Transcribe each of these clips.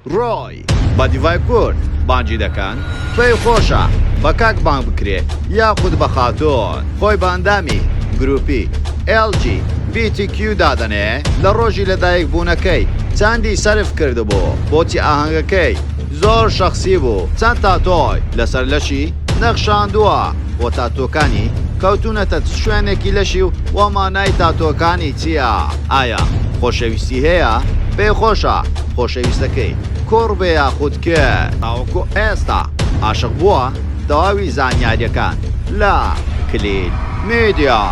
ڕۆی بە دیڤای کورد بانگی دەکەن پێی خۆشە بە کاک بانگ بکرێ یاخود بە خاتوون خۆی بە ئەندامی گروپی ئێڵ جی بی تی کیو دادەنێ لە ڕۆژی لە دایک بوونەکەی چەندی سەرف کردبوو بۆچی ئاهەنگەکەی زۆر شەخسی بوو چەند تاتۆی لەسەر لەشی نەخشاندووە و تاتۆکانی کەوتونەتە چ شوێنێکی لەشی و مانای تاتۆکانی چیە؟ ئایا خۆشەویستی هەیە؟ پێ خۆشە خۆشەویستەکەی کوڕ بێ یاخود کچ تاوەکو ئێستا ئاشق بووە؟ تەواوی زانیاریەکان لە کلیل میدیا.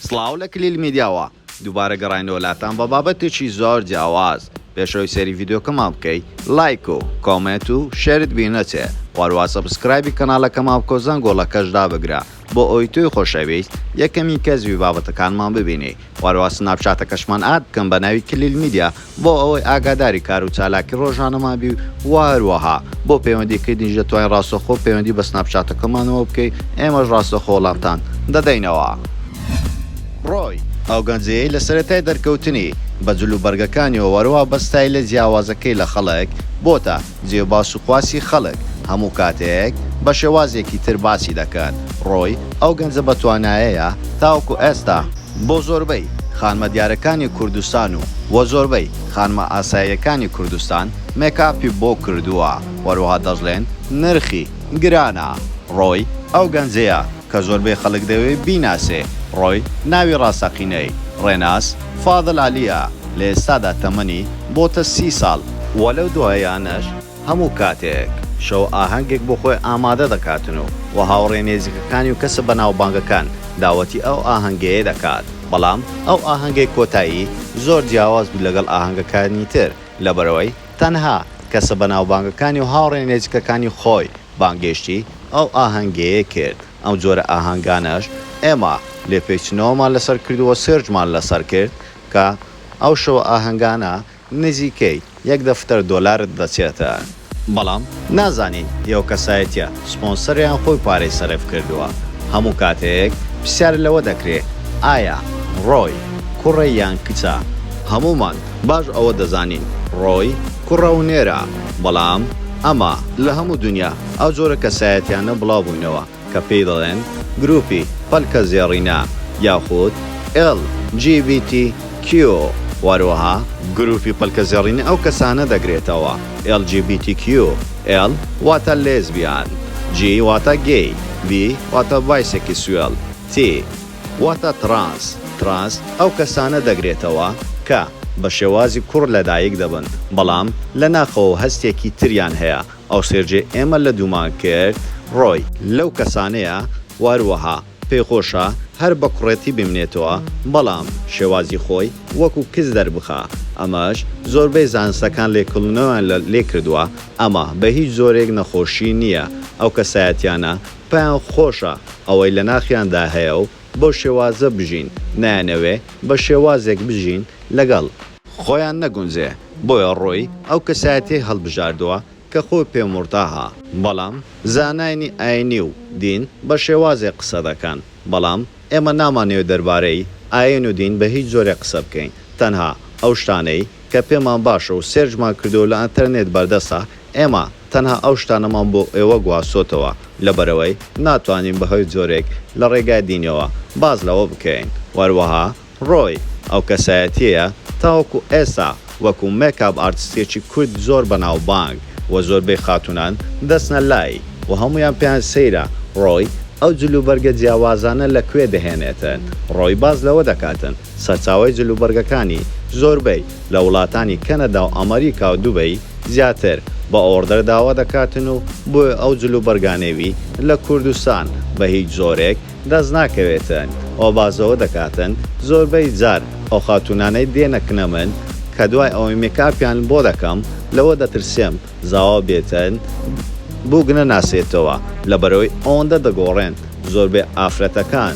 سڵاو لە کلیل میدیاوە دووبارە گەڕاینەوە لاتان بە بابەتێکی زۆر جیاواز پێش ئەوەی سەیری ڤیدیۆکەمان بکەی لایک و کۆمێنت و شێرت بی نەچێ وەروە سەبسکرایبی کەناڵەکەمان بکەو زەنگۆڵەکەش دابگرە بۆ ئەوەی تۆی خۆشەویست یەکەمین کەس بی بابەتەکانمان ببینی وەروە سناپچاتەکەشمان ئاد بکەن بە ناوی کلیل میدیا بۆ ئەوەی ئاگاداری کار و چالاکی ڕۆژانەمان بی و هەروەها بۆ پەیوەندی کردنیش دەتوانی ڕاستەوخۆ پەیوەندی بە سناپچاتەکەمانەوە بکەی ئێمەش ڕاستەوخۆ وڵامتان دەدەینەوە. ڕۆی، ئەو گەنجەیەی لە سەرەتای دەرکەوتنی، بە جل و بەرگەکانیەوە وەرەوا بە ستایلە جیاوازەکەی لە خەڵک، بۆتە، جێ باس و خواسی خەڵک هەموو کاتێک بە شێوازێکی تر باسی دەکەن، ڕۆی ئەو گەنجە بە توانایەیە تاوەکو ئێستا بۆ زۆربەی خانمە دیارەکانی کوردستان و و زۆربەی خانمە ئاساییەکانی کوردستان مێکاپی بۆ کردووە، وەروەها دەشڵێن نرخی گرانە، ڕۆی ئەو گەنجەیە. کە زۆربەی خەڵک دەوێ بیناسێ، ڕۆی، ناوی ڕاستەقینەی، ڕێناس، فاضل عەلی، ە، لە ئێستادا تەمەنی، بۆتە، سی ساڵ، وە لەو دوایانەش هەموو کاتێک شەو ئاهەنگێک بۆ خۆی ئامادە دەکاتن و وە هاوڕێ نێزیکەکانی و کەسە بەناوبانگەکان داوەتی ئەو ئاهەنگەیە دەکات بەڵام ئەو ئاهەنگەی کۆتایی زۆر جیاواز بوو لەگەڵ ئاهەنگەکانی تر لەبەرئەوەی تەنها کەسە بەناوبانگەکانی و هاوڕێ نێزیکەکانی خۆی بانگێشتی ئەو ئاهەنگەیە کرد، ئەم جۆرە ئاهەنگانەش ئێمە لێپێچنەوەمان لەسەر کردووە، سێرچمان لەسەر کرد کە ئەو شەوە ئاهەنگانە نزیکەی یەک دەفتەر دۆلارت دەچێتە، بەڵام نازانین ئەو کەسایەتییە سپۆنسەریان خۆی پارەی سەرف کردووە، هەموو کاتێک پرسیار لەوە دەکرێت ئایا ڕۆی کوڕە یان کچە، هەموومان باش ئەوە دەزانین ڕۆی کوڕە و نێرە بەڵام ئەمە لە هەموو دونیا ئەو جۆرە کەسایەتیانە بڵاو بووینەوە کە پێی دەڵێن گروپی پەلکە زێڕینە یاخود ئێڵ جی بی تی کیو وەروەها گروپی پەلکە زێڕینە ئەو کەسانە دەگرێتەوە ئێڵ جی بی تی کیو ئێڵ واتە لێزبیان جی واتە گەی بی واتە بایسێکیسوێڵ تی واتە تڕانس، Trans، ئەو کەسانە دەگرێتەوە کە بە شێوازی کوڕ لە دایک دەبن بەڵام لە ناخەوە هەستێکی تریان هەیە، ئەوسێرجێ ئێمە لە دوومان کرد ڕۆی، لەو کەسانەیە واروەها پێی خۆشە هەر بە کوڕێتی بمنێتەوە بەڵام شێوازی خۆی وەکو کچ دەربخا، ئەمەش زۆربەی زانستەکان لێکڵنەویان لێ کردوە، ئەمە بە هیچ جۆرێک نەخۆشی نیە ئەو کەسایەتیانە پێیان خۆشە ئەوەی لە ناخیاندا هەیە و بەو شێوازە بژین، نایانەوێ بە شێوازێک بژین لەگەڵ. خۆیان نەگونجێ، بۆیە ڕۆی ئەو کەسایەتیەی هەڵبژاردووە کە خۆی پێ مورتاحە. بەڵام زاناینی ئاینی و دین بە شێوازێک قسە دەکەن، بەڵام ئێمە نامانەوێ دەربارەی ئاین و دین بە هیچ جۆرێک قسە بکەین، تەنها ئەو شتانەی کە پێمان باشە و سێرچمان کردووە لە ئەنتەرنێت بەردەستە، ئێمە. تەنها ئەو شتانەمان بۆ ئێوە گواستۆتەوە لەبەرئەوەی ناتوانین بەهۆی جۆرێک لە ڕێگای دینیەوە باس لەوە بکەین وەروەها ڕۆی ئەو کەسایەتیەیە تاوەکو ئێستا وەکو مێکاپ ئارتستێکی کورد زۆر بەناوبانگ و زۆربەی خاتونان دەچنە لای و هەموویان پێیان سەیرە ڕۆی ئەو جل و بەرگە جیاوازانە لە کوێ دەهێنێتن ڕۆی باس لەوە دەکاتن سەرچاوەی جلوبەرگەکانی زۆربەی لە وڵاتانی کەنەدا و ئەمەریکا و دوبەی زیاتر بە ئۆڕدەر داوا دەکاتن و بۆیە ئەو جلوبەرگانەی وی لە کوردستان بە هیچ جۆرێک دەست ناکەوێتن و باسەوە دەکاتن زۆربەی جار ئەو خاتوونانەی دێنەکنە من کە دوای ئەوەی مێکئاپیان بۆ دەکەم لەوە دەترسێم زاوا بێتن بووک نەناسێتەوە لەبەرئەوەی ئەوەندە دەگۆڕێن زۆربەی ئافرەتەکان.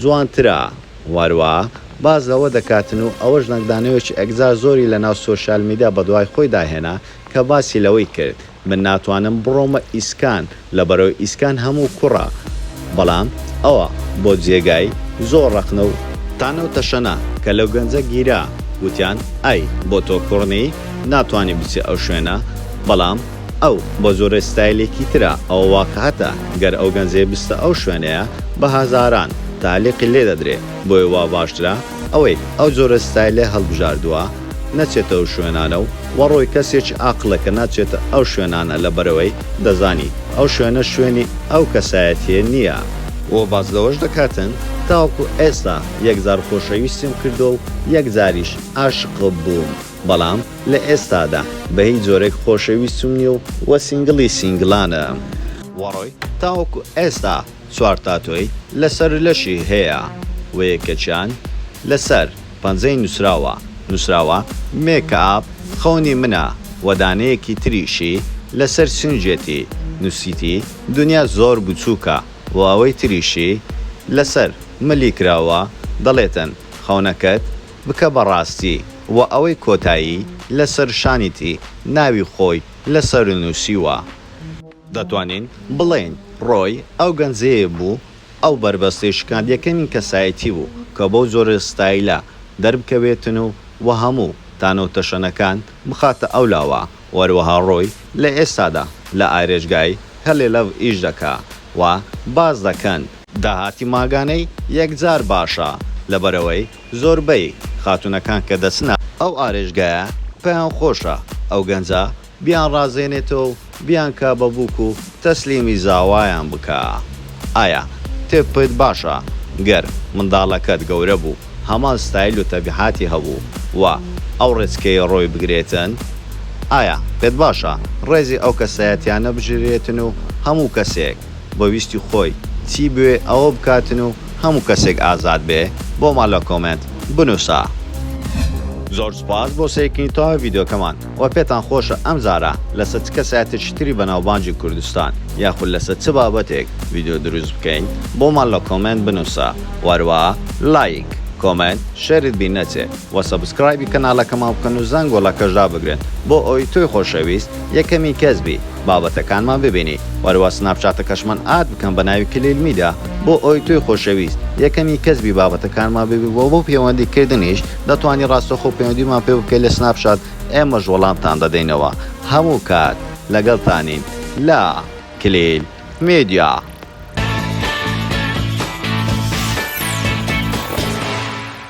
جوانترە واروا باس لەوە دەکاتن و ئەوەش نەگدانەوەیەکی ئەکجار زۆری لەناو سۆشیال میدیا بەدوای خۆیدا هێنا کە باسی لەوەی کرد من ناتوانم بڕۆمە ئیسکان لەبەرئەوەی ئیسکان هەموو کوڕە بەڵام ئەوە بۆ جێگای زۆر ڕەخنە و تانە و تەشەنە کە لەو گەنجە گیرا وتیان ئای بۆ تۆ کوڕ نی ناتوانی بچی ئەو شوێنە بەڵام. ئەو بە زۆرێ ستایلێکی ترە ئەوە واقعەتە گەر ئەو گەنجەی بچتە ئەو شوێنەیە بە هەزاران تالیقی لێ دەدرێ بۆیە وا باشترە ئەوەی ئەو جۆرە ستایلەی هەڵبژاردوە نەچێتە ئەو شوێنانە و وەڕۆی کەسێکی ئاقڵە کە ناچێتە ئەو شوێنانە لەبەرئەوەی دەزانی ئەو شوێنە شوێنی ئەو کەسایەتیە نیە. وە باس لەوەش دەکاتن تاوەکو ئێستا یەک جار خۆشەویستیم کردوە و یەک جاریش ئاشقبووم. بەڵام لە ئێستادا بە هیچ جۆرێک خۆشەویستم نیە و وە سینگڵی سینگڵانم. وەڕۆی تاوەکو ئێستا چوار تاتۆی لەسەر لەشی هەیە و یەکەکیان لەسەر پەنجەی نوسراوە نوسراوە مێکئاپ خەونی منە وە دانەیەکی تریشی لەسەر سینگێتی نوسیتی دونیا زۆر بچوکە و ئەوەی تریشی لەسەر ملی کراوە دەڵێتن خەونەکەت بکە بە ڕاستی و ئەوەی کۆتایی لە سەر شانی تی ناوی خۆی لە سەر نووسیوە. دەتوانین بڵێین ڕۆی ئەو گەنجەیە بوو ئەو بەربەستەی شکاند یەکەمین کەسایەتی بوو کە بەو جۆرە ستایلە دەربکەوێتن و و هەموو تانە و تەشەنەکان بخاتە ئەو لاوە و هەروەها ڕۆی لە ئێستادا لە ئارێژگای هەلێ لەڤ ئیش دەکا و باس دەکەن داهاتی مانگانەی یەکجار باشە لەبەرئەوەی زۆربەی خاتونەکان کە دەچنە ئەو ئارێشگایە پێیان خۆشە ئەو گەنجە بیان ڕازێنێتەوە و بیان کا بە بوک و تەسلیمی زاوایان بکا ئایا تێپ پت باشە گەر منداڵەکەت گەورە بوو هەمان ستایل و تەبیعاتی هەبوو و ئەو ڕێچکەیە ڕۆی بگرێتن ئایا پێت باشە ڕێزی ئەو کەسایەتیانە بژرێتن و هەموو کەسێک بە ویستی خۆی چی بوێ ئەوە بکاتن و هەموو کەسێک ئازاد بێ بۆمان لە کۆمێنت بنوسە. زۆر سوپاس بۆ سەیرکردنی تەواوی ڤیدیۆکەمان وە پێتان خۆشە ئەم جارە لەسەر چ کەسایەتێکی تری بەناوبانگی کوردستان یاخود لەسەر چ بابەتێک ڤیدیۆ دروست بکەین بۆمان لە کۆمێنت بنوسە وە هەروەها لایک کۆمێنت شێرت بیر نەچێ وە سەبسکرایبی کەنالەکەمان بکەن و زەنگۆڵەکەش دابگرن بۆ ئەوەی تۆی خۆشەویست یەکەمین کەس بی بابەتەکانمان ببینی وەرەوە سناپچاتەکەشمان ئاد بکەم بە ناوی کلیل میدیا بۆ ئەوەی تۆی خۆشەویست یەکەمین کەس بی بابەتەکانمان ببی وە بۆ پەیوەندی کردنیش دەتوانی ڕاستەخۆ پەیوەندیمان پێ بکەی لە سناپچات ئێمەش وەڵامتان دەدەینەوە هەموو کات لەگەڵتانین لە کلیل میدیا.